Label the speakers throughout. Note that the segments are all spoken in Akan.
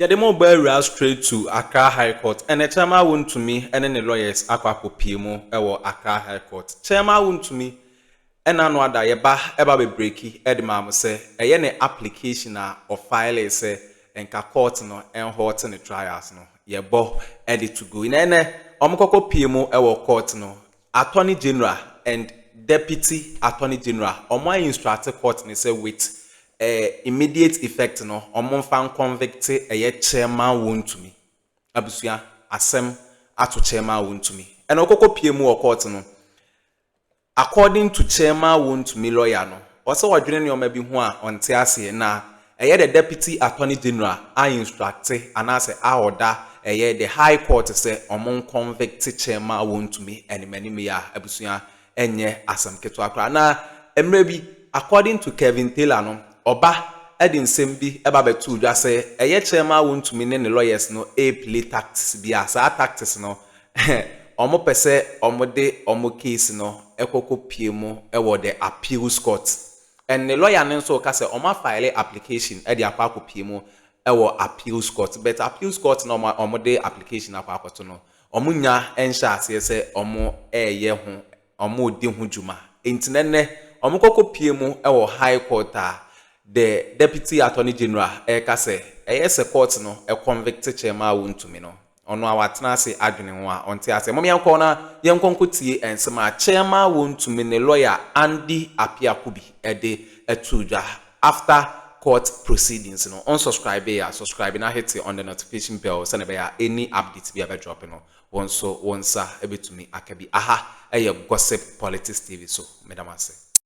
Speaker 1: Yɛde mo ba awura straight to Accra High Court. Ɛnɛ Chairman Wontumi ne ne lawyers akɔ akɔpie mu wɔ Accra High Court. Chairman Wontumi ɛna ano ada yɛ ba ɛba bɛ breaki ɛde maa mo sɛ ɛyɛ ne application a ɔ filee sɛ nka court no ɛnhɔɔte ne trials no yɛ bɔ ɛde to go. Na ɛnɛ ɔmo kɔkɔ pie mu ɛwɔ court no Attorney General and Deputy Attorney General wɔn a instruct court no sɛ with eh, immediate effect no wɔn mfa nconvict ɛyɛ chairman wɔntumi. Abusua, asɛm ato chairman wɔntumi. Ɛna ɔkɔkɔ pie mu wɔ court no, according to chairman wɔntumi lawyer no, ɔsɛ ɔdwene nneɛma bi ho a ɔnte aseɛ na Ɛyɛ the Deputy Attorney General a instructe anaasɛ a ɔda ɛyɛ the High Court sɛ ɔmo nconvicte kyɛ ma wɔntumi animanimyɛ a abusua ɛnyɛ asɛm ketewa koraa. Na mmerɛ bi according to Kevin Taylor no ɔba ɛde nsɛm bi ɛba bɛtoo dwa sɛ ɛyɛ kyɛ ma wɔntumi ne ne lawyers no ɛɛplay tactics bi a saa tactics no ɔmo pɛ sɛ ɔmo de ɔmo case no ɛkɔ kɔ pie mu ɛwɔ the Appeals Court Ne lɔya no nso reka sɛ wɔafaele application de akɔ akɔpie mu wɔ appeals court but appeals court no a wɔde application no akɔ akɔto no, wɔnnya nhyɛɛ aseɛ sɛ wɔreyɛ ho, wɔredi ho dwuma. Enti na nnɛ wɔkɔ kɔpie mu wɔ High Court a the Deputy Attorney General reka sɛ ɛyɛ sɛ court no convict Kyeremah Wontumi no. Ɔno a watena ase adwene ho a ɔnte aseɛ. Mom yɛnkɔ na yɛnkɔ nkɔ tie nsɛm a Kyerɛma Wontumi ne lawyer Andy Appiah Kubi de too dwa after court proceedings no. Wonsubscribee a subscribe na hete on the notification bell sɛdeɛ ɛbɛyɛ a any updates bi a ɛbɛdrop no wo nso wo nsa bɛtumi aka bi. Aha yɛ Gossip Politics TV so. Meda mo ase.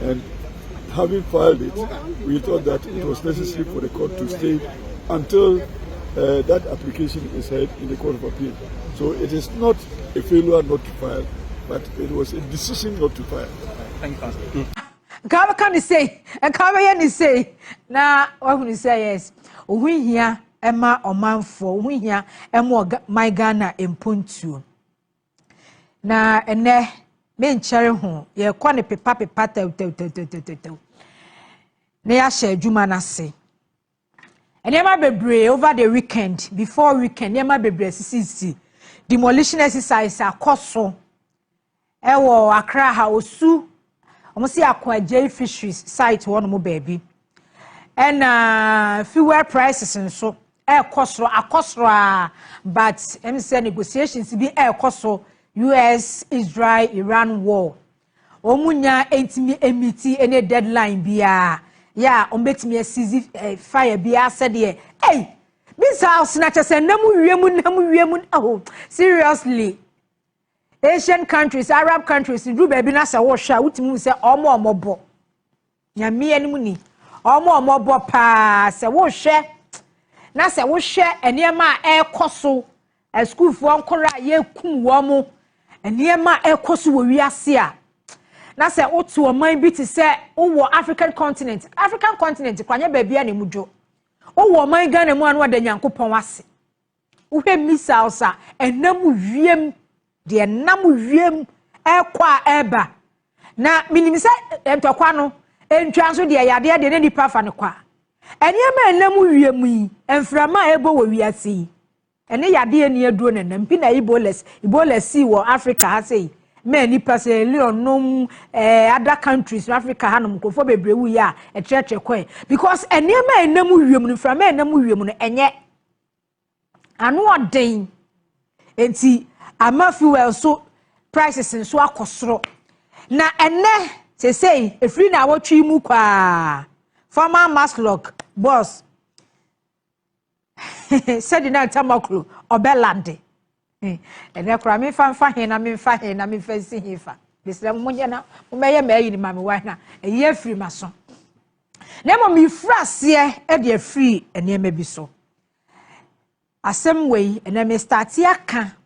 Speaker 2: And having filed it, we thought that it was necessary for the court to stay until uh, that application is heard in the Court of Appeal. So it is not a failure not to file, but it was a decision not to file. Thank
Speaker 3: you, nka bɛka ne
Speaker 4: sei nka bɛyɛ ne sei na wahunu sɛ yes ohu hia ɛma ɔmanfoɔ ohu hia ɛma ɔman ghana mpontuo. Na ɛnɛ me nkyɛre ho yɛkɔ ne pepa pepa tɛwtɛwtɛwtɛwtɛw na yɛahyɛ adwuma no ase nneɛma bebree over the weekend before weekend nneɛma bebree sisisi demolition exercise akɔ so ɛwɔ akra ha osu Wɔn si akɔ agyei fisheries site hɔ nom baabi. Ɛna fuel prices nso ɛrekɔ soro akɔ soro a but ɛm sɛ negotiations bi ɛrekɔ so US Israel Iran war. Wɔn nya ntumi emiti ɛne deadline biara yɛ a wɔn betumi asizi eh, fire biara sɛdeɛ ɛy bi saa ɔsena kyɛ sɛ nam wiem nam wiem oh seriously. Asian countries, Arab countries, duru baabi na sɛ wohwɛ a wotumi hu sɛ wɔn a wɔbɔ nyame anim ni. Wɔn a wɔbɔ paa sɛ wohwɛ na sɛ wohwɛ nneɛma a ɛrekɔ so asukuufoɔ nkora a yɛkum wɔn nneɛma a ɛrekɔ so wɔ wiase a na sɛ wote ɔman bi te sɛ wowɔ African continent African continent kora nyɛ baabi a na emu dwo wowɔ ɔman Ghana mu a na wɔda Nyankopɔn ase Wohwɛ missiles a ɛnam wiem, deɛ ɛnam wiem ɛkɔ a ɛba. Na menim sɛ ntɔkwa no, ntwa nso deɛ yadeɛ deɛ na nipa fa no kɔ a. Nneɛma a ɛnam wiem yi, mframa a ɛbɔ wɔ wiase yi, ɛne yadeɛ ni aduro na ɛnam. Bi na Ebola, Ebola sii wɔ Africa ha sei. Mɛ nipa Sierra Leone nom, eh, other countries no Africa ha nom, nkurɔfoɔ bebree wuiɛ a, ɛtrɛtrɛ kɔɛ. Because nneɛma a ɛnam wiem no, mframa a ɛnam wiem no, ɛnyɛ. ano ɔden nti ama fuel so prices nso akɔ soro na ɛnɛ sesei efiri na awɔtwe mu kwaa former maslok boss sɛde na ntamaklo ɔbɛlande Hmm. Ɛnɛ koraa memfa mfa he na memfa he na memfa nsi he fa. Mesrɛ mo monyɛ na mommɛyɛ ma ayi ne ma me wan na ɛyi afiri m'aso. Na mmom mefiri aseɛ de afiri nneɛma bi so. Asɛm wei ɛnɛ mestate aka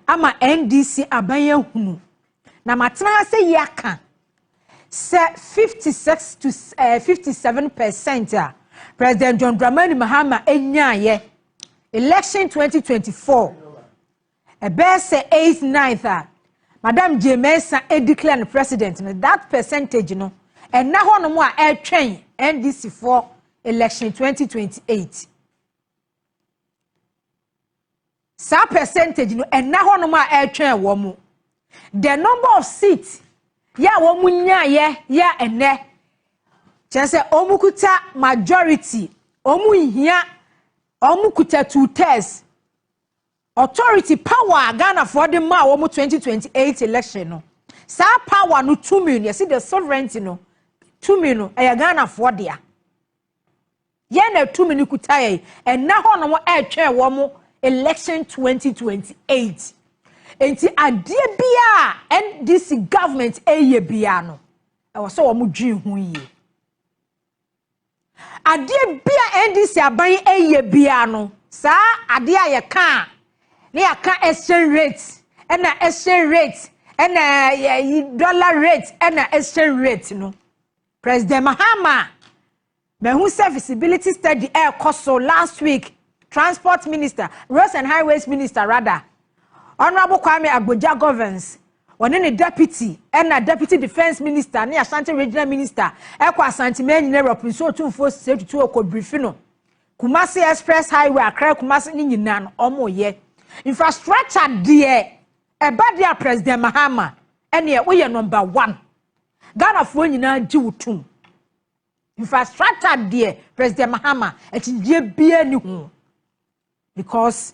Speaker 4: ama NDC aban ahunu na matena ha sɛ yi aka sɛ 56 to uh, eh, 57 percent a President John Dramani Mahama ɛnyaayɛ election 2024 ɛbɛyɛ sɛ eighth ninth a madam jay mensah edeclare no president no that percentage no ɛna hɔnom a ɛtwɛn ndc foɔ election 2028 saa percentage no ɛna hɔnom a ɛtwɛn wɔn mo the number of seats yɛ a wɔn nyaayɛ yɛ a ɛnɛ kyerɛ sɛ wɔn kuta majority wɔn nhia wɔn kuta two thirds authority power a ghanafoɔ de maa wɔn 2028 election no saa power no tumi no yɛsi the sovereignty no tumi no ɛyɛ ghanafoɔ dea. Yɛn na tumi no kuta yɛn. Ɛnna hɔnom ɛretwɛn wɔn election 2028. Enti adeɛ biara a NDC government ɛyɛ biara no, ɛwɔ sɛ wɔn dwen ho yie. Adeɛ bi a NDC aban yi ɛyɛ biara no, saa adeɛ a yɛka a, ne yɛaka exchange rate, ɛna exchange rate, ɛna yɛ dollar rate, ɛna exchange rate no. President Mahama Mahu sɛ feasibility study ɛrekɔ so last week transport minister roads and highways minister rather honourable Kwame Agbodza Govins ɔne ne deputy ɛna deputy defence minister ne Ashanti regional minister ɛkɔ Asante Manyina Europe nsuo tumfoɔ sɛ tutu ɔkɔ brifi no Kumasi express highway Accra Kumasi ne nyinaa no ɔmo yɛ infrastructure deɛ ɛba deɛ a president Mahama ɛneɛ woyɛ number one Ghanafoɔ nyinaa gye wo tum. Infrastructure deɛ President Mahama akyinnyegyeɛ biara nni ho because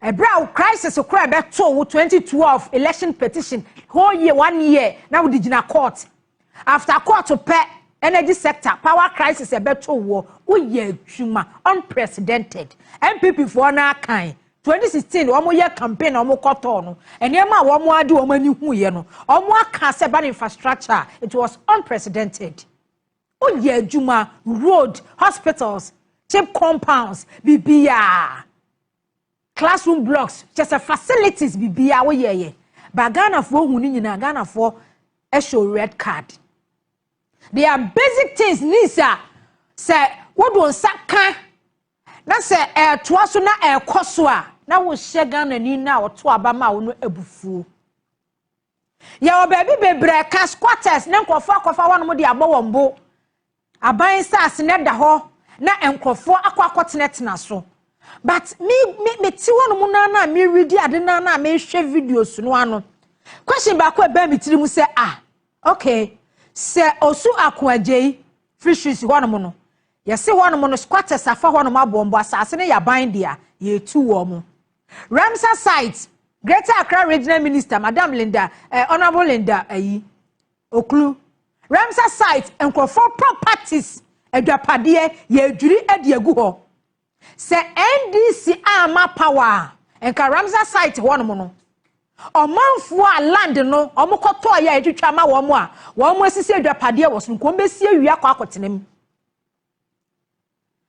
Speaker 4: ɛberɛ a crisis koro a ɛbɛtoo wo 2012 election petition whole year one year na wode gyina court after court pɛ energy sector power crisis ɛbɛtoo woɔ woyɛ adwuma unprecedented npp foɔ no akan twenty sixteen wɔn yɛ campaign na wɔn kɔ tɔɔ no nneɛma a wɔn ade wɔn ani hu yɛ no wɔn aka sɛ ban infrastructure it was unprecedented o yɛ adwuma road hospitals chip compounds bibiaa classroom blocks kyɛ sɛ facilities bibiaa o yɛ yɛ ba ghanafoɔ hu ne nyinaa ghanafoɔ ɛhyɛ red card they are basic things needs a sɛ wɔde nsa ka Na sɛ ɛretoa so na ɛrekɔ so a, na wohyɛ Ghanani no a ɔto aba ma wo no abufuo. Yɛwɔ baabi bebree a ɛka squatters ne nkurɔfoɔ akɔfa hɔnom de abɔ wɔn bo. Aban saase no da hɔ na nkurɔfoɔ akɔ akɔtenatena so. But me me me te hɔnom no na me redi ade no na mehwɛ videos no ano. Question baako a ɛbaa me tiri mu sɛ ah okay sɛ osu ako agyei fisheries hɔnom no Yɛse hɔnom no squatters afa hɔnom aboɔmbɔ, asaase no yɛ aban dea, yɛretu wɔn. Ramsar Site, Greater Accra Regional Minister Madam Linda, eh, Honourable Linda ayi, Oklu. Ramsar Site, nkurɔfoɔ properties, adwapadeɛ, yɛredwiri de agu hɔ. Sɛ NDC amma power a nka Ramsar site hɔ nom no ɔmanfoɔ a land no wɔn kɔtɔɔ yɛ a yɛtwitwa ama wɔn a wɔn asisi adwapadeɛ wɔ so nka wɔn bɛsi awie akɔ akɔtena mu.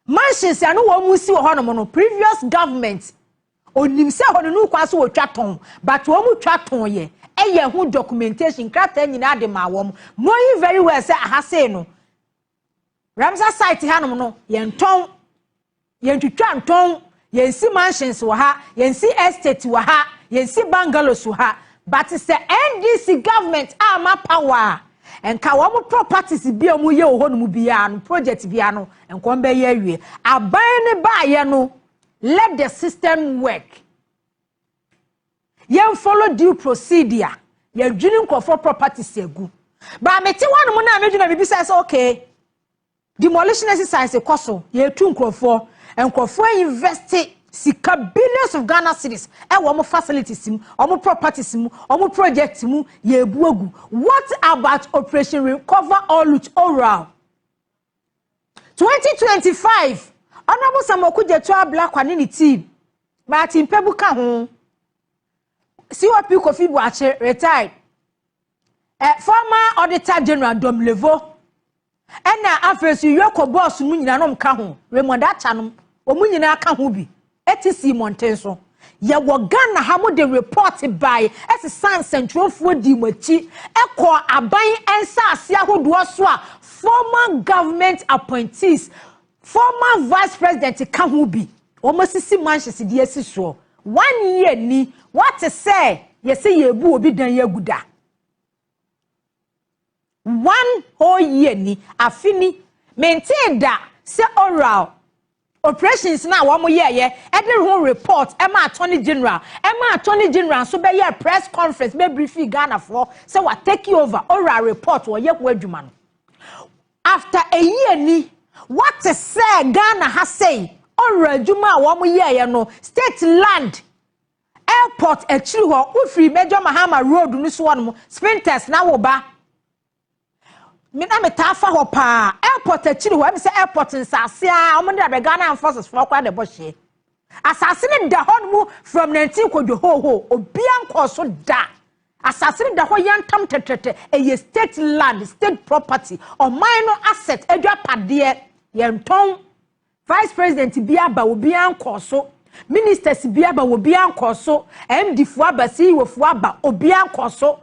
Speaker 4: Mansions a ne wɔn si wɔ hɔ nom no previous government onim sɛ hɔ no ne kwan so wɔtwa tɔn but wɔn twa tɔn yɛ ɛyɛ ho documentation krataa nyinaa de maa wɔn knowing very well sɛ aha sei no Ramsar site hanom no, yɛntɔn, yɛntwitwa ntɔn, yɛnsi mansions wɔ ha, yɛnsi estate wɔ ha, yɛnsi bungalows wɔ ha. But sɛ NDC government ama power a, nka wɔn properties bi a wɔyɛ wɔ hɔnom biara no, project biara no, nka wɔn bɛyɛ awie. Aban no baayɛ no, let the system work. yɛn follow due procedure yɛdwene nkurɔfoɔ properties agu baa mete hɔ anom na medwene biribi sɛ sɛ okay demolition exercise kɔ so yɛtu nkurɔfoɔ nkurɔfoɔ invest sika billions of ghana cities ɛwɔ wɔn facilities mu wɔn properties mu wɔn projects mu yɛbu agu what about operation recover or loot oral. Twenty twenty five, Honourable Sam Okudzeto Ablakwa ne ne team, Martin Pebu ka ho, COP Kofi Boakye, retired, eh, former Auditor General Dom Levo, ɛna afei nso Yoko Boss mu nyinaa nom ka ho, Raymond Atta nom, wɔn nyinaa ka ho bi. te sii mmɔnten so. Yɛwɔ Ghana ha mo de report bae ɛsesa nsɛntwerɛfoɔ dii mo akyi ɛkɔɔ aban nsaase ahodoɔ so a former government appointees former vice president ka ho bi wɔn asisi mansions de asi soɔ one year ni wate sɛ yɛsɛ yɛbu obi dan agu da One whole year ni, afe ni, mentee da sɛ oral operations no a wɔyɛeɛ de ho report ma attorney general ma attorney general nso bɛyɛɛ press conference bɛbrifii Ghanafoɔ sɛ wa take over oral report wɔyɛ ho adwuma no. After a year ni, wɔte sɛ Ghana ha sei oral adwuma a wɔyɛeɛ no state land Airport akyiri hɔ, wofiri Major Mahama Road no so hɔnom, Spintex na wo ba. Me na metaa fa hɔ paa. Airport akyiri hɔ, ɛmi sɛ airport nsaase a, wɔn de abɛ Ghana Armed Forces fɔ koraa na ɛbɔ hyeɛ. Asaase no da hɔ no from 19 kɔdwo hoohoo, obia nkɔɔ so da. Asaase no da hɔ yantam tɛtɛtɛ, ɛyɛ state land, state property, ɔman no asset, adwapadeɛ, yɛntɔn. Vice President bi aba obi ankɔ so, Ministers bi aba obi ankɔ so, MD foɔ aba, CEO foɔ aba obi ankɔ so.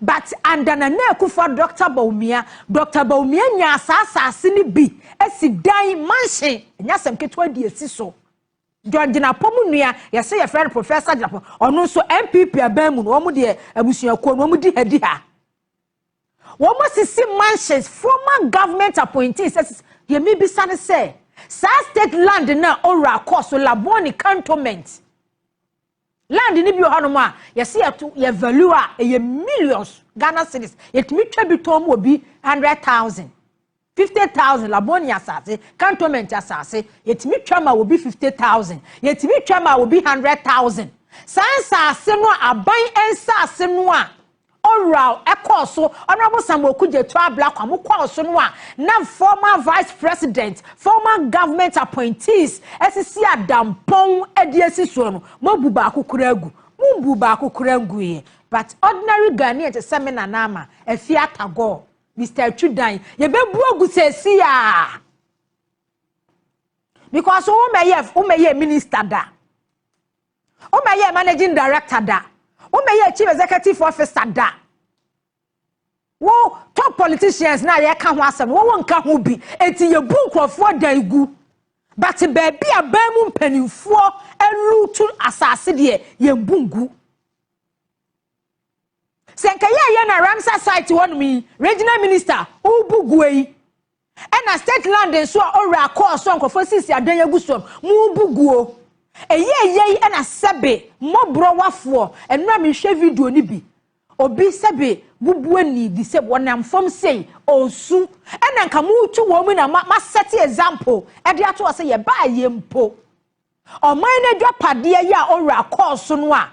Speaker 4: But under Nana Akufo-Addo Doctor Bawumia, Doctor Bawumia nyaa saa asaase no bi asi dan, mansion, ɛnyɛ asɛm ketewa de asi so. John Gyinapɔ mo nua, yɛse yɛfrɛ no Professor Gyinapɔ, ɔno nso NPP aban mu no wɔn deɛ abusuakuo no wɔn di ha di ha. Wɔn sisi mansions former government appointees ɛsisi deɛ mi bisa ne sɛ saa state land na owura kɔ so labone cantonment land ne bi wɔ hɔnom a yɛsi yɛto yɛ value a ɛyɛ millions Ghana cedis yɛtumi twa bi tɔn mu obi hundred thousand. Fifty thousand, Labone asase, cantonment asase, yɛtumi twa maa obi fifty thousand, yɛtumi twa maa obi hundred thousand. Saa nsase no a aban nsase no a Owuraw ɛkɔɔ so, Honourable Samuel Okudzeto Ablakwa mo kɔɔ so no a na former vice president, former government appointees asisi adampɔn de asi soɔ no, moabu baako koraa agu? Mombu baako koraa nguiɛ. But ordinary Ghanaian te sɛ me Nana Ama, Afia Tagore, Mister Atwi dan yɛbɛbu agu sɛsi a because womɛyɛ womɛyɛ minister da womɛyɛ managing director da womɛyɛ chief executive officer da wo top politicians na yɛka ho asɛm wɔwɔ nka ho bi eti yɛbu nkurɔfoɔ dan gu but baabi a ban mu mpanimfoɔ alutu asase deɛ yɛn bu ngu. Sɛ nka yɛyɛ na Ramsar site hɔnom yi regional minister wobu gua yi ɛna state land nso a owura kɔɔ so a nkurɔfoɔ sisi adan agu soɔ no mo bu guo ɛyɛ ɛyɛ yi ɛna sɛbe mmɔborɔ wafoɔ ɛno a mehwɛ video no bi obi sɛbe bubu ani di sɛ wɔnam fam sei ɔsu ɛna nka mo tu wɔn mu na ma, ma set example ɛde ato hɔ sɛ yɛbaa yɛ mpo ɔman no adwapadeɛ yɛ a owura kɔɔ so no a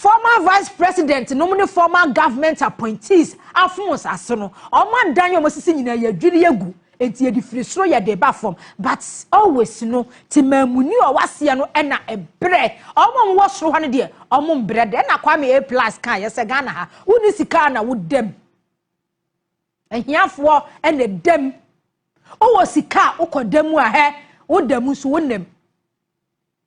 Speaker 4: Former vice president nom ne former government appointees afons ase no ɔmo adan a ɔmo asisi nyinaa yɛdwiri agu enti yɛde firi soro yɛde ba fam but always no temaamuni a ɔwɔ aseɛ no na ɛbrɛ ɔmo a ɔmo wɔ soro hɔ no deɛ ɔmo mbrɛ da ɛna Kwame A plus kaeɛ sɛ Ghana ha wonni sika a na wo dam ahiafoɔ na ɛdam wowɔ sika a wokɔ da mu a hɛ wo da mu nso wo nam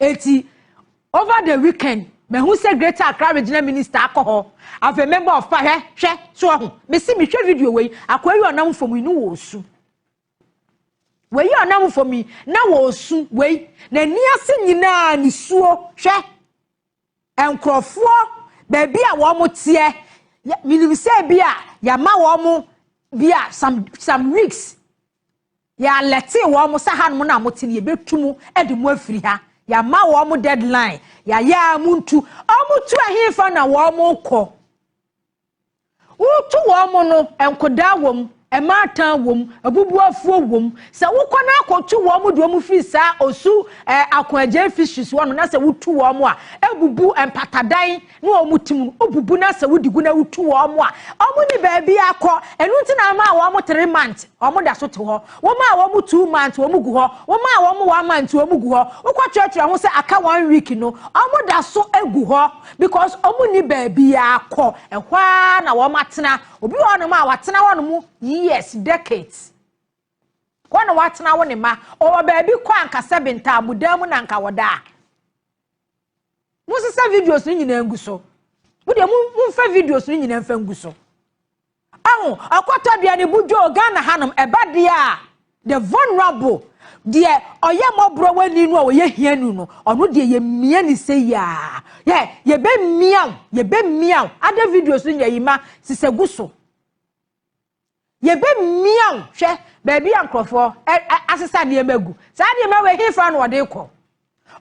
Speaker 4: Eti over the weekend mehu sɛ Greater Accra Regional Minister akɔ hɔ afei member of pa hwɛ hwɛ so ɔho mesi mehwɛ video wei akɔ yi ɔnam fam yi ne wɔ osu wei ɔnam fam yi na wɔ osu wei n'ani ase nyinaa nisuo hwɛ nkurɔfoɔ baabi a wɔn teɛ menim sɛ bi a yɛama wɔn bi a some some weeks Yɛalɛtee wɔn sɛ hanom na mote no, yɛbɛtu mo de mo afiri ha. Yɛama wɔn deadline, yɛayɛ ara montu. Wɔtu ɛhefa na wɔrekɔ? Wotu wɔn no, nkodaa wom, mmaatan wom, abubuafoɔ wom. Sɛ wokɔ no akɔtu wɔn de wɔn firi saa osu eh, akoagyan fisheries hɔ no na sɛ wotu wɔn a, ɛbubu mpatadan na wɔn ti mu no wobubu na sɛ wodi gu na wotu wɔn a wɔn ni baabi akɔ ɛnu nti na wɔn a wɔn three months wɔn da so te hɔ wɔn a wɔn two months wɔn gu hɔ wɔn a wɔn one month wɔn gu hɔ wokɔ kyerɛkyerɛ ho sɛ aka one week no wɔn da so egu hɔ because wɔn ni baabi akɔ ɛhɔ ara na wɔn atena obi wɔ hɔnom a watena hɔnom years decades wɔn na watena wo ne ma ɔwɔ baabi kɔ ankasa bi ntaamudan mu na nka wɔda a. monsesa videos no nyinaa ngu so wodeɛ momfa videos no nyinaa mfa ngu so aho ɔkɔtɔ aduane bu dwoo ghana hanom ɛba deɛ a the vulnerable deɛ ɔyɛ mmɔborɔ wani no a ɔyɛ hia nu no ɔno deɛ yɛmmia ne sɛ yia yɛ yɛbɛmmia wo yɛbɛmmia wo ada videos no nyɛ yi ma sisɛ gu so Yɛbɛmia wo hwɛ baabi a nkurɔfoɔ asesa nneɛma agu. Saa nneɛma wei, hefa na wɔde rekɔ?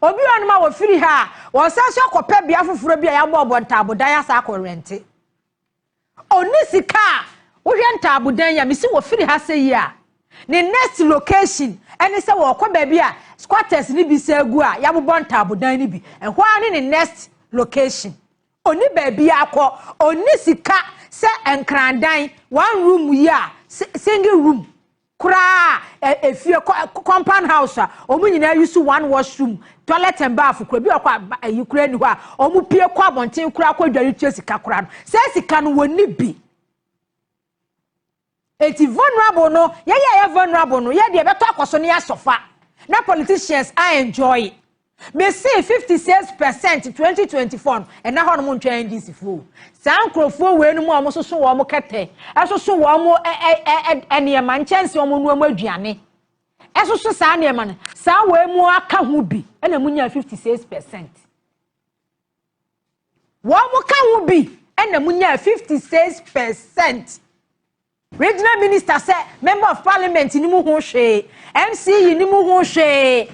Speaker 4: Obi wɔ nom a wɔfiri ha a, wɔsan so akɔpɛ bea foforɔ bi a yɛabɔɔbɔ ntaabodan asan akɔ rɛnte. Ɔni sika a wohwɛ ntaabodan yi a, mesi wɔfiri ha sɛ yi a, ne next location ɛne sɛ wɔkɔ baabi a squatters no bi sɛ agu a yɛabobɔ ntaabodan no bi. Ɛhɔ ara ne ne next location. Onni baabiara kɔ, onni sika sɛ nkrandan, one room yi a, single room koraa a, efie, compound house a, wɔn nyinaa use one wash room, toilet and bath koraa, ebi wɔ hɔ a, ayi koraa nni hɔ a, wɔn pie kɔ abɔnten koraa kɔ dware tua sika koraa no, saa sika no wɔnni bi. Eti vulnerable no yɛyɛ a yɛ vulnerable no yɛ deɛ ɛbɛtɔ akɔso ne asɔfa na politicians a enjoy mesee fifty six percent twenty twenty four no ɛna hɔ nom ntwɛn NDC foɔ o saa nkorɔfoɔ wei nom a wɔn soso wɔn kɛtɛ ɛsoso wɔn nneɛma nkyɛnse wɔn nua wɔn aduane ɛsoso saa nneɛma no saa wei mu aka ho bi ɛna mo nya fifty six percent Wɔn ka ho bi na munyaa 56 per cent. Regional Minister sɛ Member of Parliament no mu ho hwee, MCE no mu ho hwee,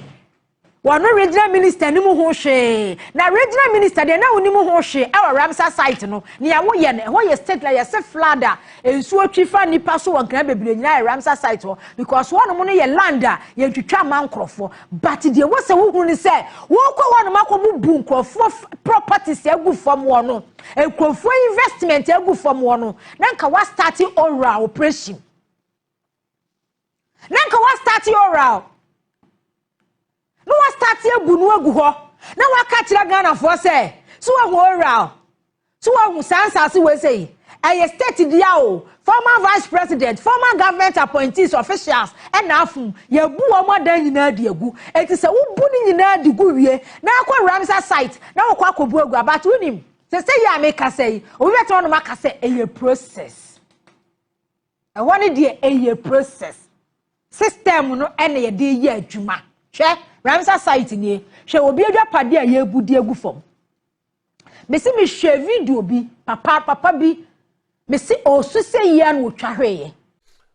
Speaker 4: wɔno Regional Minister no mu ho hwee. Na Regional Minister deɛ na wonni mu ho hwee ɛwɔ Ramsar site no, nea woyɛ no, ɛhɔ yɛ state na yɛse flood a nsuo twi fa nnipa so wɔ nkran bebree nyinaa yɛ Ramsar site hɔ because hɔnom no yɛ land a yɛntwitwa mma nkorɔfoɔ. But deɛ ɛwɔ sɛ wohunu ne sɛ wokɔ hɔnom akɔbubu nkurɔfoɔ f- properties agu fam hɔ no, nkurɔfoɔ investment agu fam hɔ no, na nka woastarte oral operation. Na nka woastarte oral. Na woastarte abu no agu hɔ. Na woaka kyerɛ Ghanafoɔ sɛ, so wahu oral. So woahu saa nsase wei sei? Ɛyɛ state dea o, former vice president, former government appointees, officials ɛna afom. Yɛabu wɔn adan nyinaa de agu. Enti sɛ wobu ne nyinaa de gu wie na akɔ Ramsar site na wokɔ akɔbu agu a, but wonim, sɛsɛ yi a mekasa yi, obi bɛtena hɔnom aka sɛ ɛyɛ process. Ɛhɔ no deɛ ɛyɛ process. System no ɛna yɛde yɛ adwuma. Hwɛ, Ramsar site nie. Hwɛ obi adwapade a yɛabu de agu fam. Mesi me hwɛ video bi papa papa bi mesi ɔsu sɛ yia na ɔtwa hwɛyɛ.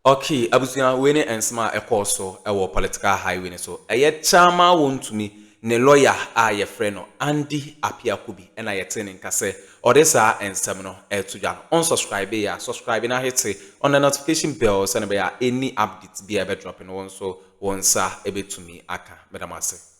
Speaker 4: Okay
Speaker 1: abusua wei ne nsɛm a ɛkɔɔ so wɔ political highway no so ɛyɛ kyaama wɔn tumi ne lawyer a yɛfrɛ no Andy Apiakobi na yɛtee ne nka sɛ ɔde saa nsɛm no ɛto dwa no ɔnsubscribe yɛ a subscribe na hete on the notification bell sɛne bɛyɛ a any updates bi a ɛbɛ drop no wɔn nso wɔn nsa ɛbɛtumi aka meda mo ase.